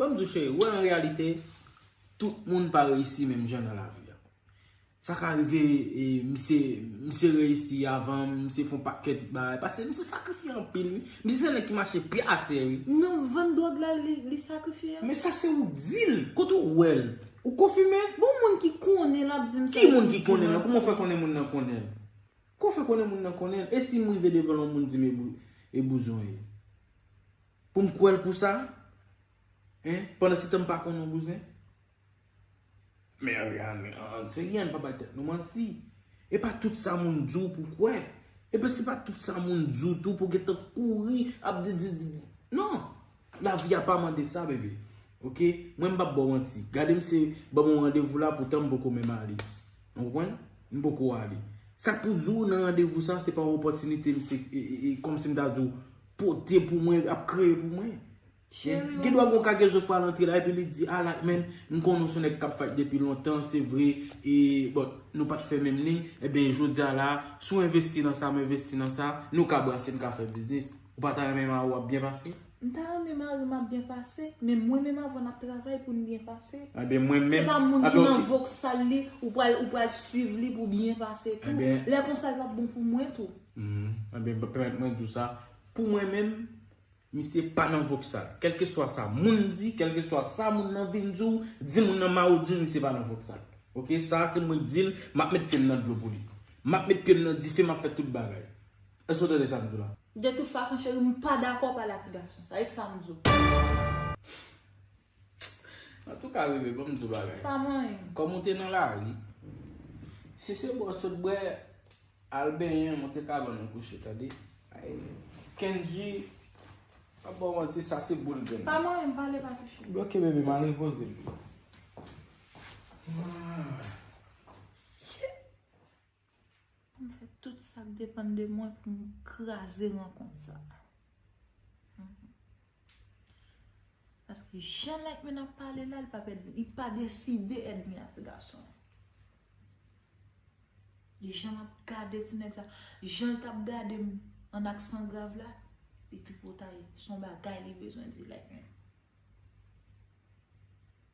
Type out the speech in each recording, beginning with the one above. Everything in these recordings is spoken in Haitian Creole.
Banm diw cheri, ou wè an reyalite, tout moun pa reyisi menm jan nan lavi a. Sa ka rive, misye, misye reyisi avanm, misye fon pakèt bagay, pase misye sakrifye anpil wi. Misye se nèg ki mache pye atè wi. Nan vann dwòg la li sakrifye a? Men sa se ou dil, kote ou wèl? Ou konfime? Bon moun ki konnen lap dim sa epi li di manti. Ki moun ki konnen nan? Kouman ou fè konnen moun nan konnenl? Kouman ou fè konnen moun nan konnenl? E sim rive devanl yon moun dim e bouzon e? Pou m kwè l pou sa? Hein? Pandansetan m pa konn yon bouzen? Men Ariane, an an serye an n pa bay tèt nou manti. E pa tout sa moun di w pou w kwè. E pi se pa tout sa moun di w tou pou w gen tan kouri ap di di di di. Non! Lavi a pa mande sa bebe. Ok? Mwen m pap ba w manti. Gade m se ban m yon randevou la poutan m poko menm ale. Ou konprann? M poko ale. Sa k pou di w nan randevou sa se pa yon opòtinite m se e e e kòm si m ta di w. Pote pou mwen, ap kreye pou mwen. Gen dwa gon kagezo k pral antre la epi li di ala menm m konnen w se yon nèg k ap fayt depi lontan se vre e bon nou pat fè menm liy enben jodi a la si w envesti nan sa m envesti nan sa nou ka brase n ka fè biznis ou pa ta renmen mari w ap byen pase? M ta renmen mari m ap byen pase men mwen menm avan n ap travay pou n byen pase se pa moun ki nan voksal li ou pral swiv li pou w byen pase tou lè konsa l pap bon pou mwen tou. Humm ebyen pèmèt mwen diw sa pou mwen menm misye pa nan voksal kelkeswa sa moun di kelkeswa sa moun nan vin diw di moun nan maw dil misye pa nan voksal ok sa se mwen k dil map met pyem nan dlo pou li map met pyem nan dife map fè tout bagay eske ou tande sam diw la. De tout fason cheri m pa dakò w pale ak ti gason sa e sam diw. An tou ka bebe banm di w bagay. Pa manyen. Kòm ou te nan lari. Si se bò sot bwè al benyen ou te ka bann ou kouche tande. Kendji pap ba w manti sa se boul grenn. Pa manyen pale pa touche m. Ok bebe m al repoze m. Pou m fè tout sa k depann de mwen pou m kraze rankont sa a. Paske jan Like Me ap pale la, li pa pè, li pa deside èdmi a ti gason. Li jan ap gade ti nèg sa, jan l t ap gade m an aksan grav la, li tripotay. Son bagay li bezwen di Like Me.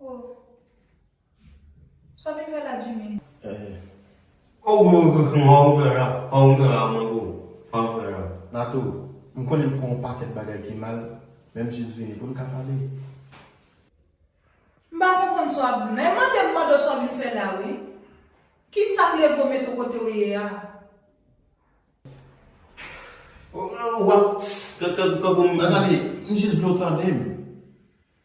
Oh Sa w vin fè la Jimmy? Oh Mwen pran gran mango Mwen pran gran mango Natou, m konnen m fè yon pakèt bagay ki mal men m jis vini pou n ka pale. M pa konprann sa w ap di nan. E mande m mande w sa w vin fè la wi. Kisa k leve w mete w kote w ye a? Ou wap tankou m. Nathalie, m jis vle w tande m.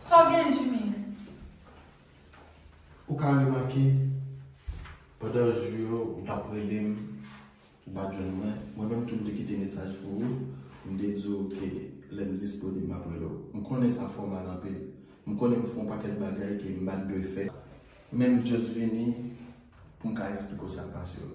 Sa w gen Jimmy? Ou ka remake, pandan jou yo ou t ap rele m, ou pa t jwenn mwen. Mwen menm tou m te kite mesaj pou ou, m te di w ke lè m disponib m ap rele w. M konnen sa fè w mal anpil. M konnen m fè yon pakèt bagay ke m pa t dwe fè. Men m just vini pou m ka esplike w sa k pase yo.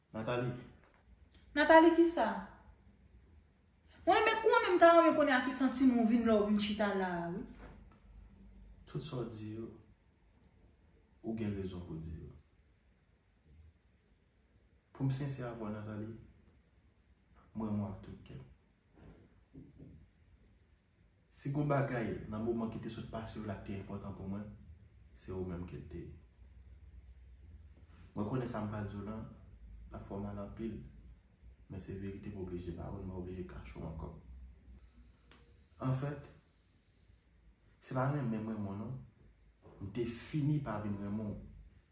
Nathalie. Nathalie kisa? Mwen renmen konnen, m ta renmen konnen a ki santiman ou vin la ou vin chita la a wi. Tout sa w di yo, ou gen rezon pou w di yo. Pou m sensè avè w Nathalie, m renmen w ak tout kè m. Si gon bagay nan moman ki te sot pase yo la ki te enpòtan pou mwen, se ou menm ke l te ye. Mwen konnen sa m pa di w lan ap fè w mal anpil, men se verite m oblije ba ou, m pa oblije kache w ankò. Anfèt, se pa renmen m renmen w non, m te fini pa vin renmen w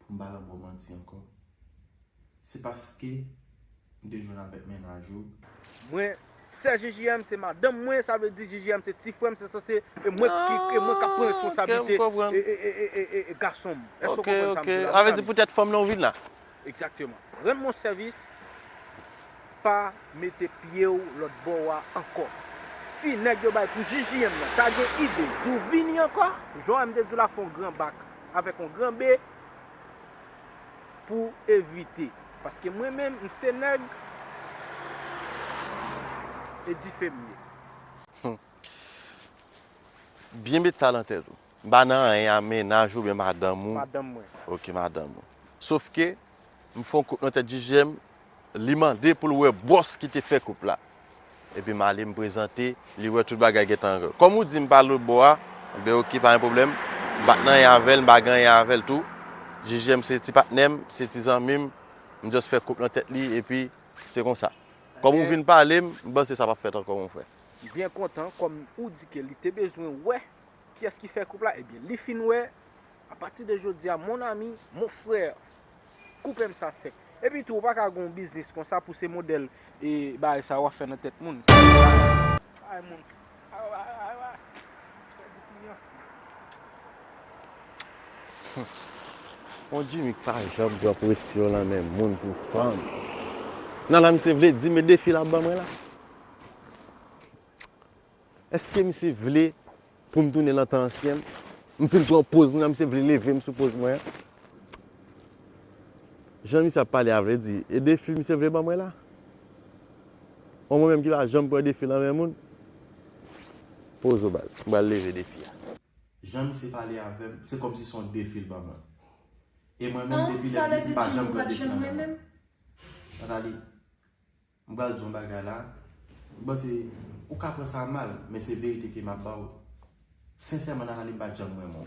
Pou m pa lan bò manti ankò. Se paske m te jwenn avèk mennaj ou. Mwen sè JJM se madanm mwen sa vle di JJM se ti frè m se sanse e mwen ki e mwen kap pran responsablite e gason m. Èske ou konprann sa m di la? Sa vle di poutèt fanm lan ou vin la? Egzakteman. Rann mwen sèvis pa mete pye w lòt bò a ankò. Si nèg yo bay pou JJM nan ta gen ide di w vini ankò, jan m te di w la fè yon gran bak. avèk yon gran be pou evite. Paske mwen menm m se nèg e dife m ye. Hum. Byen met sa lan tèt ou. M pa nan anyen a mennaj ou byen madanm ou. Madanm mwen. Ok madanm ou. Sof ke. M fè yon kout nan tèt Jijè m, li mande pou l wè bòs ki te fè kout la. Epi m ale m prezante, li wè tout bagay gentan an règ. Kòm ou di m pa lòt bò a, m bay ok pa gen pwoblèm. M pa t nan anyen avè l, m pa gen anyen avè l tou. Jijè m se ti patnè m, se ti zanmi m, m just fè kout nan tèt li epi se konsa. Kòm ou vin pale m, m panse sa pa p fèt ankò mon frè. M byen kontan kòm ou di ke li te bezwen wè kiyès ki fè kout la, ebyen li fin wè A pati de jodi a mon ami, mon frère, koupe m sa sèk. Epi tou ou pa ka gen yon biznis konsa pou se modèl bagay sa yo wap fè nan tèt moun. Sa se pa bagay moun. Mon Jimmy k pa janm pran presyon nan men moun pou fanm. Nan la misye vle di m e defi lap ban mwen la. Eske misye vle pou m tounen lan tan ansyen m? M fin pran poz mwen an misye vle leve m sou poz mwen an? Jan misye ap pale a vle di e defi misye vle ban mwen la? An mwen menm ki pa janm pran defi lan men moun? Poz ou baz, m pral leve defi a. Jan misye pale avè m, se kòmsi se yon defi l ban mwen. E mwen menm depi lè piti m pa janm pran defi lan men moun. Nathalie. M pral di yon bagay la, m panse ou ka pran sa mal, men se verite ke m ap ba ou. Sensèman Natalie m pa janm renmen w.